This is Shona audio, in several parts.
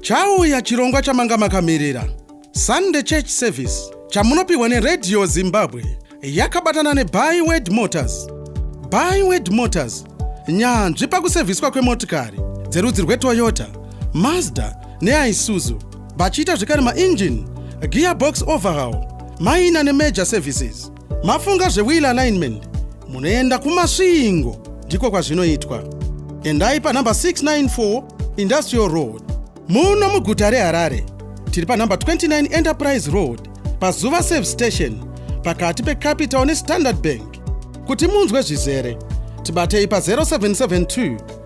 Chauya chirongwa chamanga makamirira. Sunday Church Service chamunopihwa neRadio Zimbabwe yakabatana neByword Motors. Byword Motors nyanzvi pakusevhiswa kwemotikari dzerudzi rweToyota, Mazda neIsuzu vachiita zvekare mainjini, gearbox overhaul, minor nemajor services. Mafunga zvewill alignment munoenda kumasvingo ndiko kwazvinoitwa. Endai panhamba 694 Industrial Road muno muguta reHarare. Tiri panhamba 29 Enterprise Road paZuva Save Station pakati peCapital neStandard Bank. Kuti munzwe zvizere tibatei pa 0772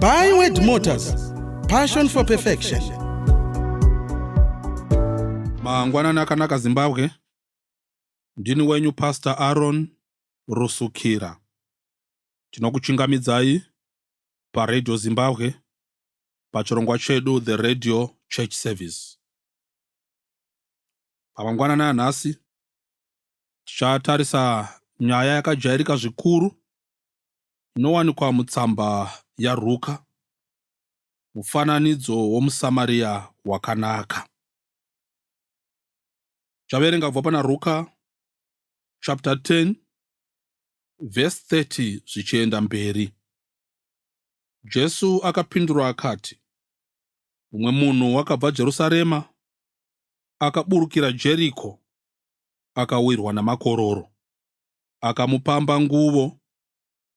By Word Motors, passion for perfection. Mangwanani akanaka Zimbabwe. Ndini wenyu Pastor Aaron Rusukira. Tinokuchingamidzai paRadio Zimbabwe pachirongwa chedu The Radio Church Service. Pamangwanani anhasi tichatarisa nyaya yakajairika zvikuru inowanikwa mutsamba yaRuka, mufananidzo womuSamaria wakanaka. Chaverenga kubva pana Ruka chapter 10 verse 30 zvichienda mberi. Jesu akapindura akati, Mumwe munhu wakabva Jerusarema akaburukira Jeriko akawirwa namakororo, akamupamba nguvo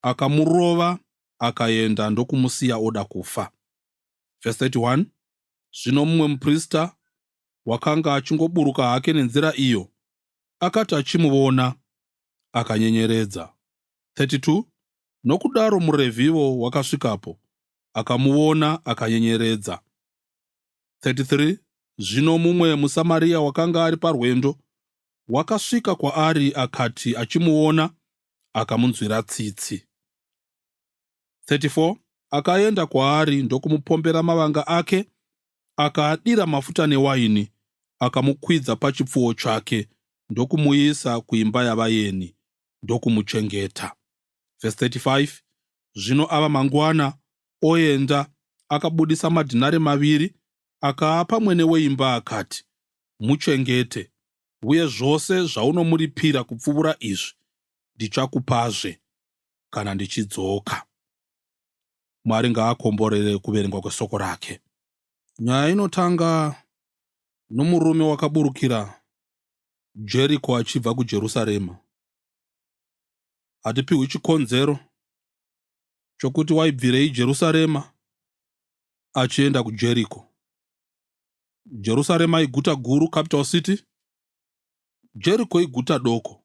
akamurova akaenda ndokumusiya oda kufa. Verse 31 Zvino mumwe muprista wakanga achingoburuka hake nenzira iyo akati achimuvona akanyenyeredza. 32 Nokudaro murevhivo wakasvikapo akamuvona akanyenyeredza. 33 Zvino mumwe muSamaria wakanga ari parwendo wakasvika kwaari akati achimuona akamunzwira tsitsi. 34 akaenda kwaari ndokumupombera mavanga ake akaadira mafuta newaini akamukwidza pachipfuwo chake ndokumuisa kuimba yavayeni ndokumuchengeta. Verse 35 Zvino ava mangwana oenda. Akabudisa madhinari maviri akaapa mwene weimba akati, Muchengete, uye zvose zvaunomuripira kupfuura izvi ndichakupazve kana ndichidzoka. Mwari ngaakomborere kuverengwa kwesoko rake. Nyaya inotanga nomurume wakaburukira Jeriko achibva kuJerusarema. Hatipiwi chikonzero chokuti waibvirei Jerusarema achienda kuJeriko. Jerusarema iguta guru, capital city. Jeriko iguta doko.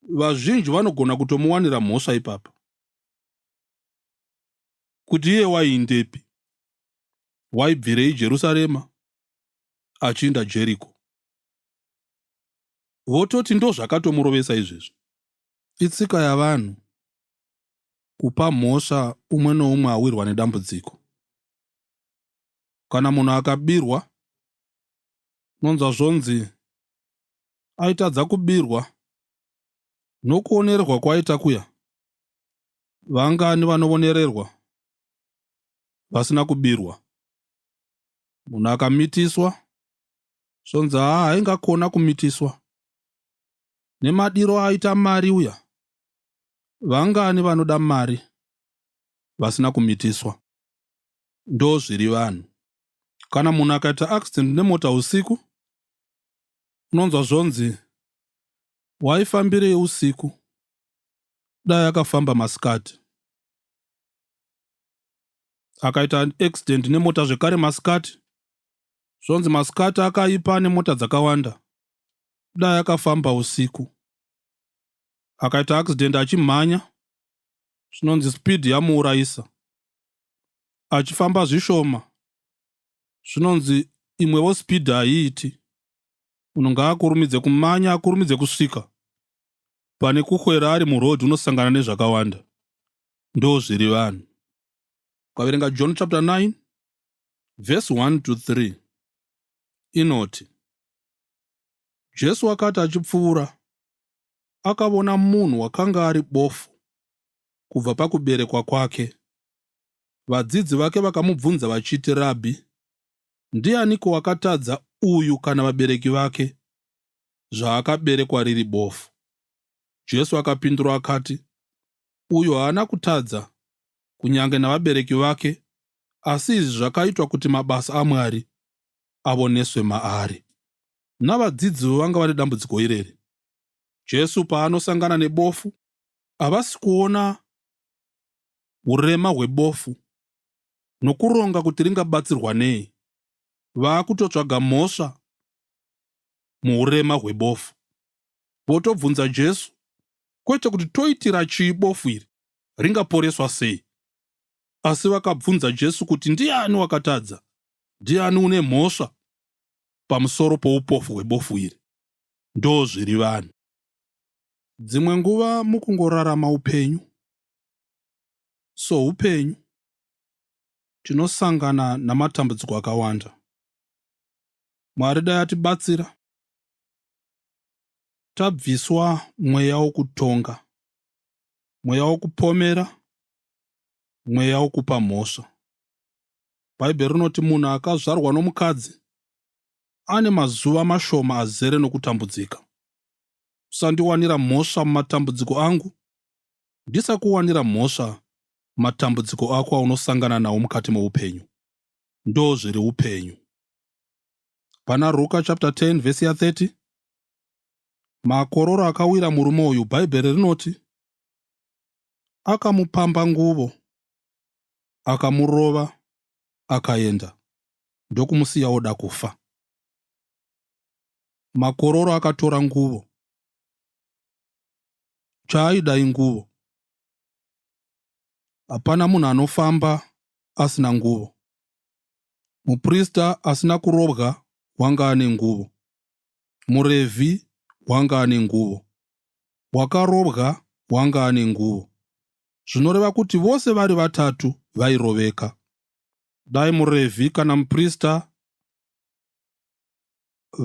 Vazhinji vanogona kutomuwanira mhosva ipapa kuti iye waiindepi, waibvirei Jerusarema achiinda Jeriko. Vototi ndozvakatomurovesa izvezvi. Itsika yavanhu kupa mhosva umwe noumwe awirwa nedambudziko. Kana munhu akabirwa, unonzwa zvonzi aitadza kubirwa nokuonererwa kwaita kuya. Vangani vanovonererwa vasina kubirwa? Munhu akamitiswa, zvonzi haa haingakona kumitiswa. Nemadiro aita mari uya. Vangani vanoda mari vasina kumitiswa. Ndozviri vanhu. Kana munhu akaita accident nemota usiku unonzwa zvonzi waifambirei usiku dai akafamba masikati. Akaita accident nemota zvekare masikati zvonzi masikati akaipa nemota dzakawanda dai akafamba usiku akaita accident achimhanya zvinonzi speed yamuurayisa achifamba zvishoma zvinonzi imwewo speed haiiti munhu ngaakurumidze kumanya akurumidze kusvika pane kukwera ari muroad unosangana nezvakawanda ndo zviri vanhu ukaverenga john chapter 9 vhesi 1 to 3 inoti Jesu akati achipfuura, akavona munhu wakanga ari bofu kubva pakuberekwa kwake. Vadzidzi vake vakamubvunza vachiti, Rabhi, ndianiko wakatadza uyu kana vabereki vake zvaakaberekwa riri bofu? Jesu akapindura akati, Uyu haana kutadza, kunyange navabereki vake, asi izvi zvakaitwa kuti mabasa aMwari avoneswe maari. Navadzidzivo vanga vane dambudziko irere. Jesu paanosangana nebofu, havasi kuona urema hwebofu nokuronga kuti ringabatsirwa nei. Vaakutotsvaga mhosva muurema hwebofu. Votobvunza Jesu, kwete kuti toitira chii bofu iri, ringaporeswa sei? Asi vakabvunza Jesu kuti ndiani wakatadza, Ndiani une mhosva pamusoro poupofu hwebofu iri? Ndozviri vanhu. Dzimwe nguva mukungorarama upenyu soupenyu, tinosangana namatambudziko akawanda. Mwari dai atibatsira tabviswa mweya wokutonga, mweya wokupomera, mweya wokupa mhosva. Bhaibheri rinoti munhu akazvarwa nomukadzi ane mazuva mashoma azere nokutambudzika. Usandiwanira mhosva mumatambudziko angu, ndisakuwanira mhosva matambudziko ako aunosangana nawo mukati moupenyu. Ndo zviri upenyu. Pana Ruka chapter 10 vhesi ya 30 makororo akawira murume uyu, Bhaibheri rinoti akamupamba nguvo akamurova akaenda ndokumusiya oda kufa. Makororo akatora nguvo chaaida inguvo. Hapana munhu anofamba asina nguvo. Muprista asina kurobwa wanga ane nguvo. Murevhi wanga ane nguvo, wakarobwa wanga ane nguvo, zvinoreva kuti vose vari vatatu vairoveka. Dai murevhi kana muprista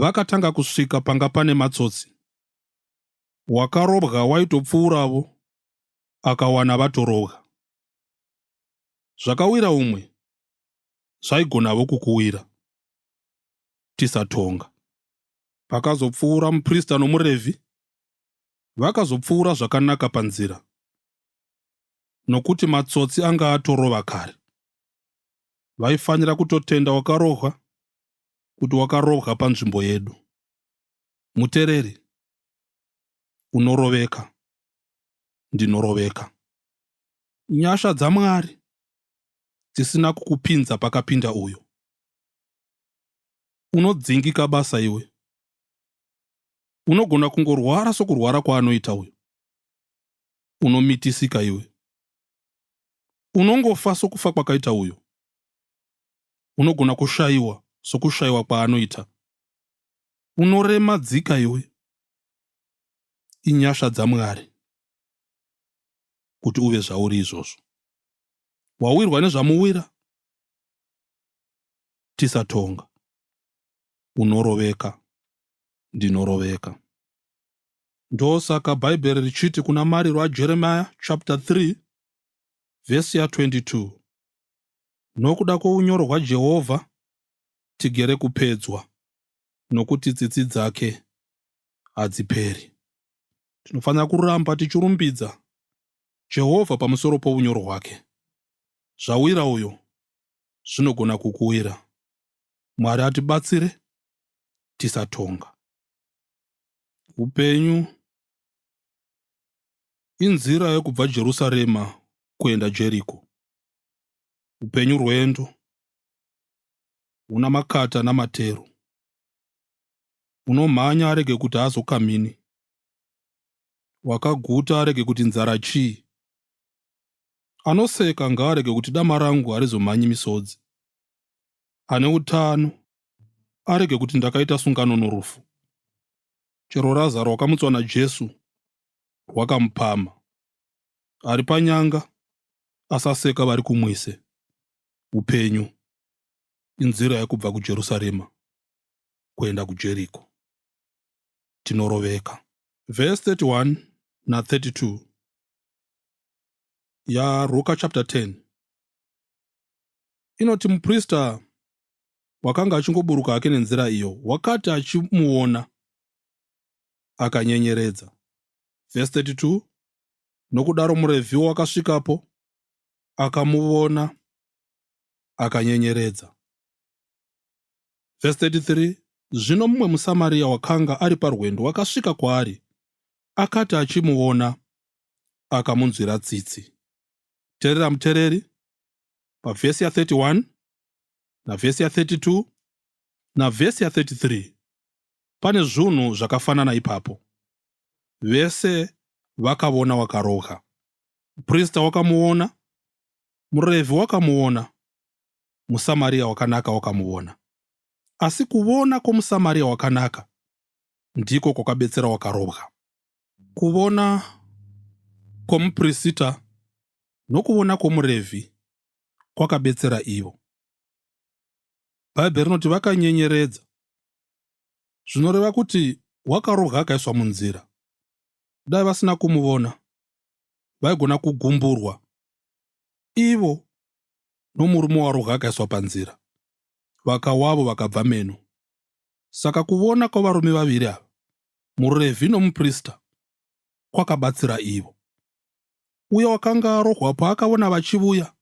vakatanga kusvika panga pane matsotsi, wakarobwa waitopfuuravo akawana vatorobwa. Zvakawira umwe zvaigonavo kukuwira. tisatonga. Pakazopfuura muprista nomuRevhi, vakazopfuura zvakanaka panzira, nokuti matsotsi anga atorova kare. Vaifanira kutotenda wakarohwa kuti wakarohwa panzvimbo yedu. Mutereri, unoroveka, ndinoroveka. Nyasha dzaMwari dzisina kukupinza pakapinda uyo. Unodzingika basa iwe. Unogona kungorwara sokurwara kwaanoita uyo. Unomitisika iwe. Unongofa sokufa kwakaita uyo. Unogona kushayiwa sokushayiwa kwaanoita. Unorema dzika iwe. Inyasha dzaMwari kuti uve zvauri izvozvo. Wawirwa nezvamuwira? tisatonga unoroveka ndinoroveka ndosaka bhaibheri richiti kuna mariro ajeremiya chapter 3 vhesi ya 22 nokuda kwounyoro hwajehovha tigere kupedzwa nokuti tsitsi dzake hadziperi tinofanira kuramba tichirumbidza jehovha pamusoro pounyoro hwake zvawira uyo zvinogona kukuwira. Mwari atibatsire tisatonga. Upenyu inzira yekubva Jerusarema kuenda Jeriko. Upenyu rwendo huna makata namatero. Unomhanya arege kuti azokamhini. Wakaguta arege kuti nzara chii. Anoseka ngaarege kuti dama rangu harizomhanyi misodzi. Ane utano arege kuti ndakaita sungano norufu. Chero raza rwakamutswa naJesu rwakamupama. Ari panyanga asaseka vari kumwise. Upenyu inzira yekubva kuJerusarema kuenda kuJeriko. Tinoroveka. Verse 31 na 32 yaRuka chapter 10 inoti muprista wakanga achingoburuka hake nenzira iyo wakati achimuona akanyenyeredza vhesi 32 nokudaro murevhiwo wakasvikapo akamuvona akanyenyeredza vhesi 33 zvino mumwe musamariya wakanga ari parwendo wakasvika kwaari akati achimuona akamunzwira tsitsi terera mutereri pavhesi ya 31 navhesi ya 32 navhesi ya 33 pane zvunhu zvakafanana ipapo vese vakavona wakaroga muprista wakamuona murevhi wakamuona musamariya wakanaka wakamuona asi kuvona kwomusamariya wakanaka ndiko kwakabetsera wakarobwa. Kuvona kwomuprisita nokuvona kwomurevhi kwakabetsera ivo. Bhaibheri rinoti vakanyenyeredza, zvinoreva kuti wakarobwa akaiswa munzira. Dai vasina kumuvona, vaigona kugumburwa ivo nomurume warobwa akaiswa panzira, vakawavo vakabva meno. Saka kuvona kwavarume vaviri ava, muRevhi nomuprista, kwakabatsira ivo. Uya wakanga arohwa paakavona vachivuya,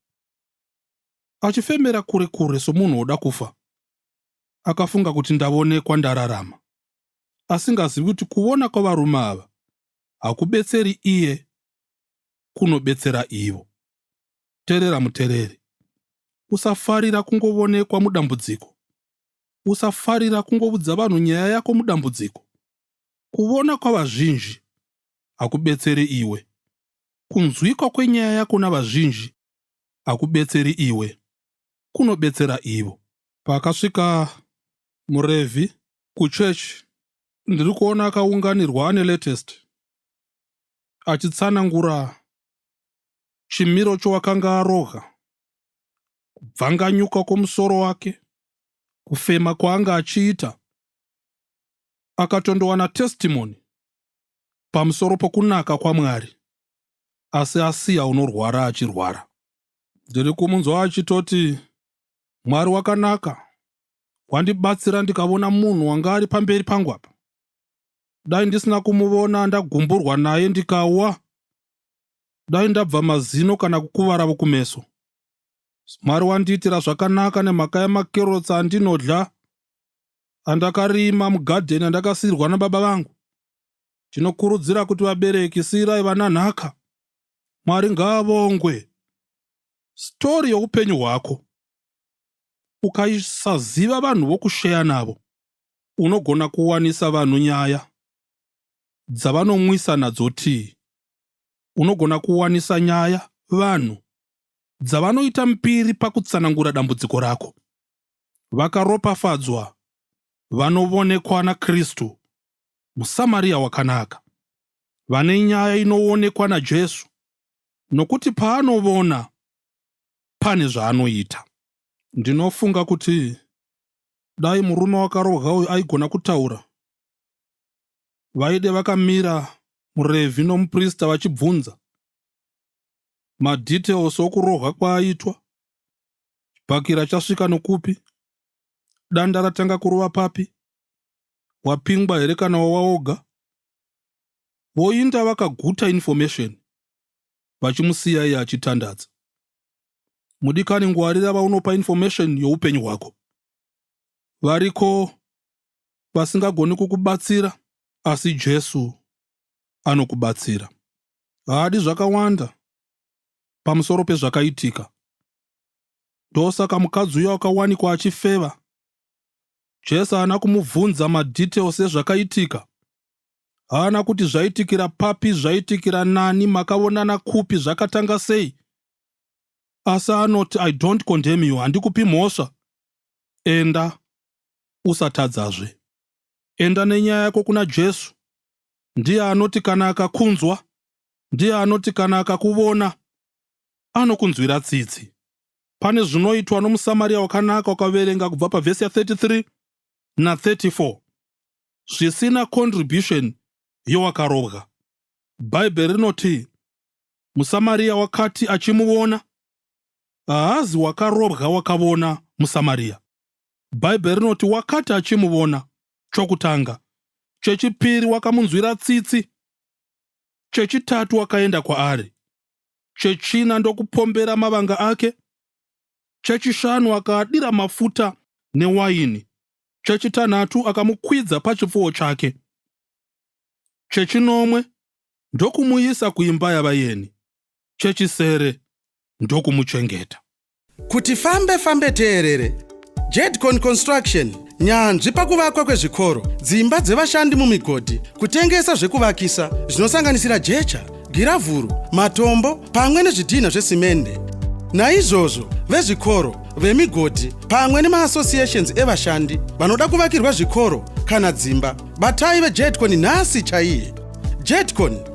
achifemera kure kure somunhu woda kufa, akafunga kuti, Ndavonekwa ndararama, asingazivi kuti kuvona kwavarume ava hakubetseri iye, kunobetsera ivo. Terera mutereri. Usafarira kungovonekwa mudambudziko. usafarira kungoudza vanhu nyaya yako mudambudziko. Kuvona kwavazhinji hakubetseri iwe. Kunzwikwa kwenyaya yako navazhinji hakubetseri iwe, kunobetsera ivo. Pakasvika murevhi kuchurch ndiri kuona akaunganirwa ane latest achitsanangura chimiro chowakanga aroga kubvanganyuka kwomusoro wake, kufema kwaanga achiita, akatondowana testimony pamusoro pokunaka kwaMwari, asi asiya unorwara achirwara. Ndiri kumunzwa achitoti, Mwari wakanaka, wandibatsira ndikavona munhu wanga ari pamberi pangu apa. Dai ndisina kumuvona ndagumburwa naye ndikawa, dai ndabva mazino kana kukuvara vokumeso. Mwari wandiitira zvakanaka nemhaka yemakerotsi andinodya andakarima mugadheni andakasiirwa nababa vangu. Tinokurudzira kuti vabereki siirai vana nhaka. Mwari ngaavongwe. Stori youpenyu hwako ukaisaziva vanhu vokusheya navo unogona kuwanisa vanhu nyaya dzavanomwisa nadzo tii unogona kuwanisa nyaya vanhu dzavanoita mbiri pakutsanangura dambudziko rako. Vakaropafadzwa vanovonekwa naKristu, muSamaria wakanaka, vane nyaya inoonekwa naJesu, nokuti paanovona pane zvaanoita. Ndinofunga kuti dai murume wakarohwa uyu aigona kutaura, vaide vakamira murevhi nomuprista vachibvunza madetails okurohwa kwaaitwa chibhakira chasvika nokupi danda ratanga kurova papi wapingwa here kana wawaoga voinda vakaguta information vachimusiya iye achitandadza mudikani ngwarira vaunopa information youpenyu hwako variko vasingagoni kukubatsira asi jesu anokubatsira haadi zvakawanda pamusoro pezvakaitika. Ndosaka mukadzi uya wakawanikwa achifeva, Jesu haana kumubvunza madetails ezvakaitika. Haana kuti zvaitikira papi, zvaitikira nani, makavonana kupi, zvakatanga sei. Asi anoti, I don't condemn you, handikupi mhosva. Enda, usatadzazve. Enda nenyaya yako kuna Jesu. Ndiye anoti kana akakunzwa, ndiye anoti kana akakuvona, anokunzwira tsitsi. Pane zvinoitwa nomuSamaria wakanaka wakaverenga kubva pavhesi ya 33 na 34 zvisina contribution yowakarobwa. Bhaibheri rinoti muSamaria wakati achimuvona, haazi wakarobwa wakavona muSamaria. Bhaibheri rinoti wakati achimuvona, chokutanga, chechipiri wakamunzwira tsitsi, chechitatu wakaenda kwaari, chechina ndokupombera mavanga ake, chechishanu akaadira mafuta newaini, chechitanhatu akamukwidza pachipfuwo chake, chechinomwe ndokumuisa kuimba yavayeni, chechisere ndokumuchengeta. Kuti fambe fambe teerere. Jedcon Construction, nyanzvi pakuvakwa kwezvikoro, dzimba dzevashandi mumigodhi, kutengesa zvekuvakisa zvinosanganisira jecha, giravhuru, matombo pamwe nezvidhinha zvesimende. Naizvozvo, vezvikoro, vemigodhi pamwe nemaassociations evashandi vanoda kuvakirwa zvikoro kana dzimba, batai veJedcon nhasi chaiye. Jedcon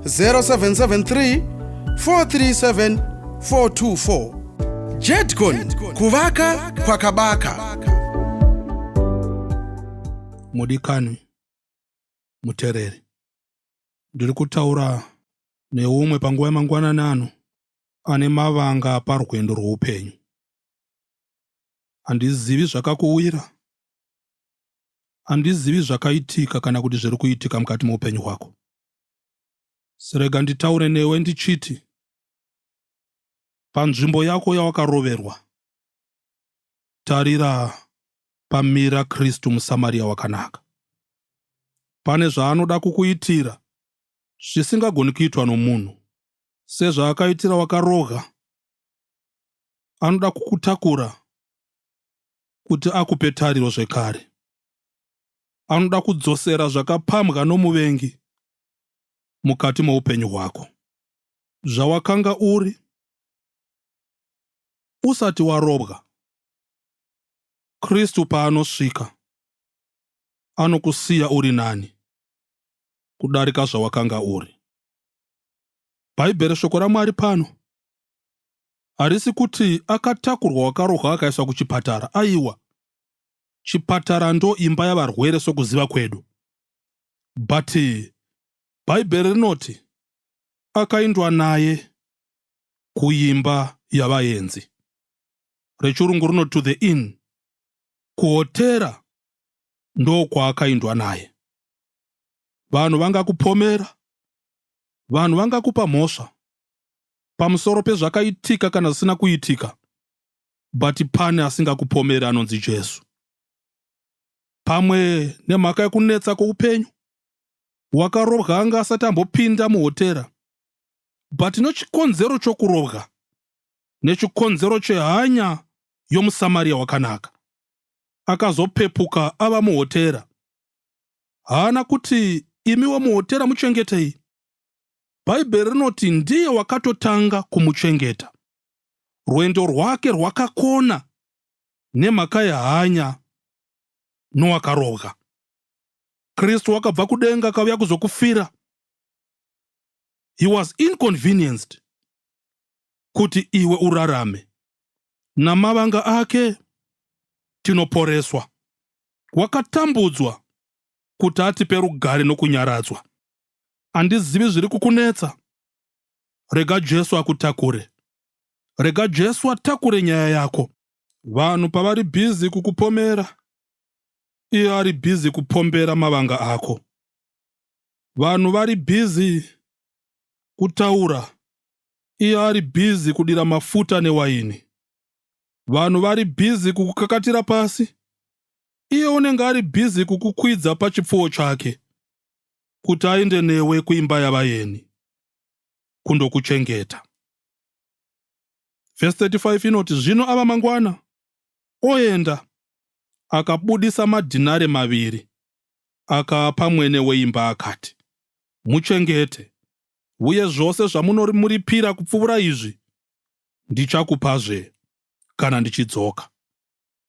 0773 437 424 jedcon kuvaka kwakabaka mudikanwi mutereri ndiri kutaura neumwe panguva yemangwanani ano ane mavanga parwendo rwoupenyu handizivi zvakakuwira handizivi zvakaitika kana kuti zviri kuitika mukati meupenyu hwako Sirega nditaure newe ndichiti panzvimbo yako yawakaroverwa tarira pamira Kristu muSamaria wakanaka. Pane zvaanoda kukuitira zvisingagoni kuitwa nomunhu, sezvaakaitira wakaroga. Anoda kukutakura kuti akupe tariro zvekare. anoda kudzosera zvakapambwa nomuvengi mukati moupenyu hwako zvawakanga uri usati warobwa kristu paanosvika anokusiya uri nani kudarika zvawakanga uri bhaibheri shoko ramwari pano harisi kuti akatakurwa wakarohwa akaiswa kuchipatara aiwa chipatara ndo imba yavarwere sokuziva kwedu but bhaibheri rinoti akaindwa naye kuimba yavaenzi rechirungu rino to the inn kuhotera ndokwaakaindwa naye vanhu vangakupomera vanhu vangakupa mhosva pamusoro pezvakaitika kana zvisina kuitika but pane asingakupomeri anonzi Jesu. Pamwe nemhaka yekunetsa kwoupenyu, wakarobwa anga asati ambopinda muhotera, but nechikonzero chokurobwa nechikonzero chehanya yomuSamaria wakanaka, akazopepuka ava muhotera. Haana kuti imiwo muhotera muchengetei. Bhaibheri rinoti ndiye wakatotanga kumuchengeta. rwendo rwake rwakakona nemhaka yehanya nowakarobwa. Kristu wakabva kudenga akauya kuzokufira. He was inconvenienced kuti iwe urarame. Namavanga ake tinoporeswa. Wakatambudzwa kuti atipe rugare nokunyaradzwa. Handizivi zviri kukunetsa. rega Jesu akutakure. Rega Jesu atakure nyaya yako. Vanhu pavari busy kukupomera, iye ari busy kupombera mavanga ako. Vanhu vari busy kutaura, iye ari busy kudira mafuta newaini. Vanhu vari busy kukukakatira pasi, iye unenge ari busy kukukwidza pachipfuwo chake. kuti aende newe kuimba yavayeni kundokuchengeta. Vhesi 35 inoti, Zvino ava mangwana oenda, akabudisa madhinare maviri, akaapa mwene weimba akati, Muchengete, uye zvose zvamunomuripira kupfuura izvi ndichakupazve kana ndichidzoka.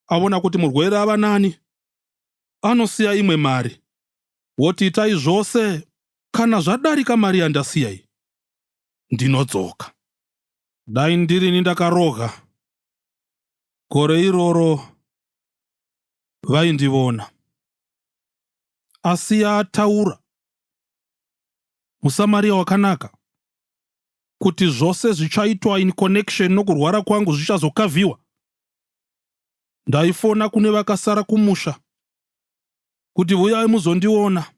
Avona kuti murwere ava nani, anosiya imwe mari woti itai zvose kana zvadarika mari yandasiya iyi ndinodzoka dai ndirini ndakaroga gore iroro vaindivona asi yataura musamariya wakanaka kuti zvose zvichaitwa in connection nokurwara kwangu zvichazokavhiwa ndaifona kune vakasara kumusha kuti huyai muzondiona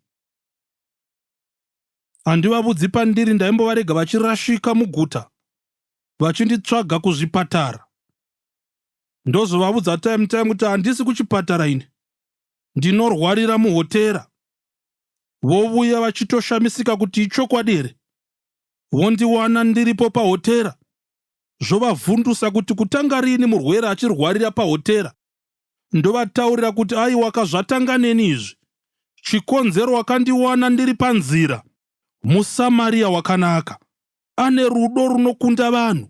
handivavudzi pandiri ndaimbovarega vachirashika muguta vachinditsvaga kuzvipatara ndozovavudza time time kuti handisi kuchipatara ini ndinorwarira muhotera vovuya vachitoshamisika kuti ichokwadi here vondiwana ndiripo pahotera zvovavhundusa kuti kutanga riini murwere achirwarira pahotera ndovataurira kuti aiwaka zvatanga neni izvi chikonzero wakandiwana ndiri panzira musamariya wakanaka ane rudo runokunda vanhu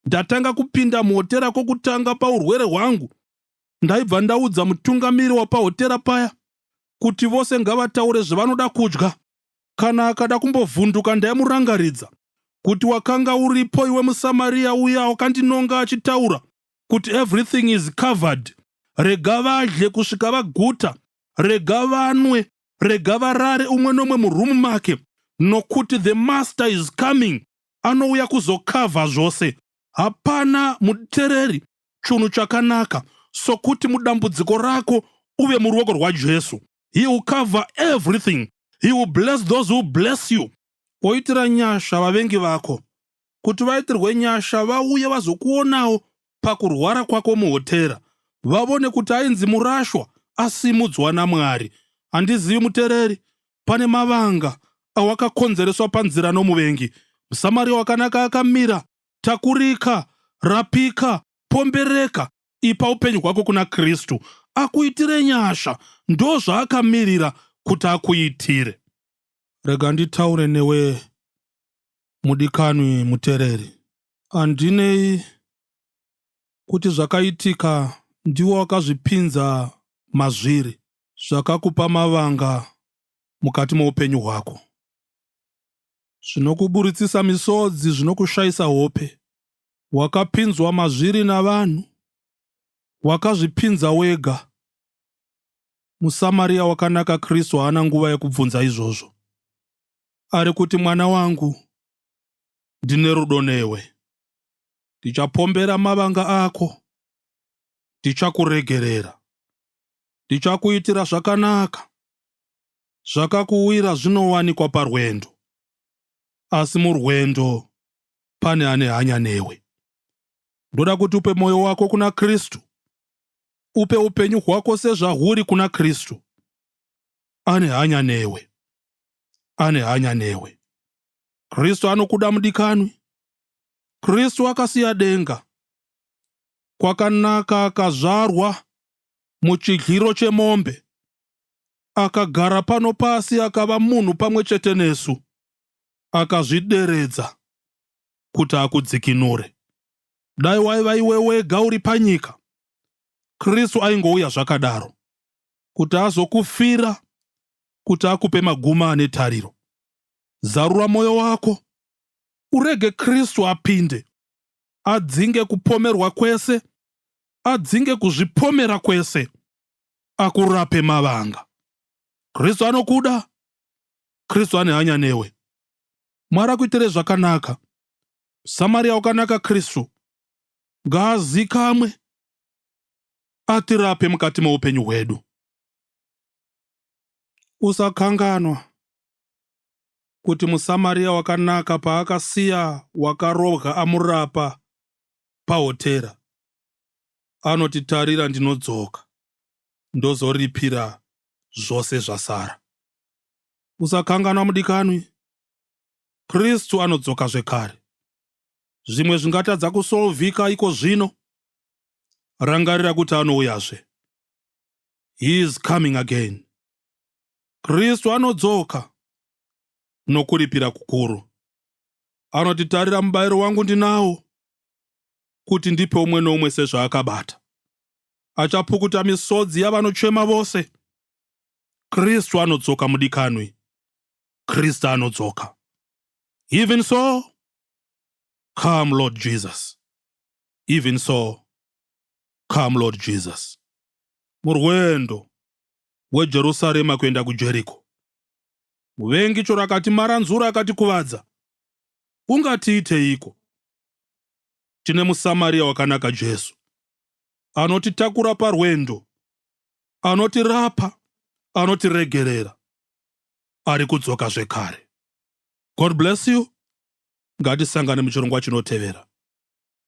ndatanga kupinda muhotera kwokutanga paurwere hwangu ndaibva ndaudza mutungamiri wapahotera paya kuti vose ngavataure zvevanoda kudya kana akada kumbovhunduka ndaimurangaridza kuti wakanga uripo iwe musamariya uya wakandinonga achitaura kuti everything is covered rega vadye kusvika vaguta rega vanwe rega varare umwe nomwe murumu make nokuti the master is coming anouya kuzokavha zvose hapana mutereri chunhu chakanaka sokuti mudambudziko rako uve muruoko rwajesu he will cover everything he will bless those who bless you woitira nyasha vavengi vako kuti vaitirwe nyasha vauye vazokuonawo pakurwara kwako muhotera vavone kuti ainzi murashwa asimudzwa namwari handizivi mutereri pane mavanga awakakonzereswa panzira nomuvengi musamariya wakanaka akamira takurika rapika pombereka ipa upenyu hwako kuna kristu akuitire nyasha ndo zvaakamirira kuti akuitire rega nditaure newe Mudikanwi mutereri, handinei kuti zvakaitika ndiwo wakazvipinza mazviri zvakakupa mavanga mukati moupenyu hwako zvinokuburitsisa misodzi zvinokushaisa hope wakapinzwa mazviri navanhu wakazvipinza wega musamariya wakanaka kristu haana nguva yekubvunza izvozvo ari kuti mwana wangu ndine rudo newe ndichapombera mavanga ako ndichakuregerera ndichakuitira zvakanaka zvakakuwira zvinowanikwa parwendo asi murwendo pane ane hanya newe ndoda kuti upe mwoyo wako kuna kristu upe upenyu hwako sezvahuri kuna kristu ane hanya newe ane hanya newe. Kristu anokuda mudikanwi. Kristu akasiya denga kwakanaka akazvarwa muchidliro chemombe akagara pano pasi akava munhu pamwe chete nesu akazvideredza kuti akudzikinure dai waiva iwe wega uri panyika kristu aingouya zvakadaro kuti azokufira kuti akupe maguma ane tariro. Zarura mwoyo wako, urege Kristu apinde, adzinge kupomerwa kwese, adzinge kuzvipomera kwese, akurape mavanga. Kristu anokuda, Kristu ane hanya newe. Mwari akuitire zvakanaka. Samaria wakanaka Kristu ngaazikamwe atirape mukati meupenyu hwedu. Usakanganwa kuti muSamaria wakanaka paakasiya wakarohwa amurapa pahotera, anoti, Tarira, ndinodzoka ndozoripira zvose zvasara. Usakanganwa mudikanwi, Kristu anodzoka zvekare. Zvimwe zvingatadza kusolvika iko zvino, rangarira kuti anouyazve. He is coming again. Kristu anodzoka nokuripira kukuru. Anoti, Tarira mubayiro wangu ndinawo, kuti ndipe umwe noumwe sezvaakabata. Achapukuta misodzi yavanochema vose. Kristu anodzoka mudikanwi. Kristu anodzoka. Even so, come Lord Jesus. Even so, come Lord Jesus. murwendo weJerusarema kuenda kuJeriko. Muvengi chero akatimaranzura akatikuvadza, ungatiiteiko? Tine muSamaria wakanaka Jesu, anotitakura parwendo, anotirapa, anotiregerera, ari kudzoka zvekare. God bless you. Ngatisangane muchirongwa chinotevera.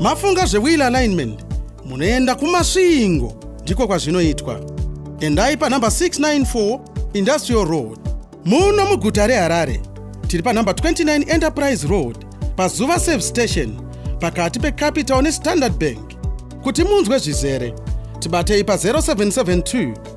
Mafunga zvewheel alignment munoenda kumasvingo ndiko kwazvinoitwa. Endai panhamba 694 Industrial Road. Muno muguta reHarare tiri panhamba 29 Enterprise Road paZuva Service Station pakati peCapital neStandard Bank. Kuti munzwe zvizere tibatei pa 0772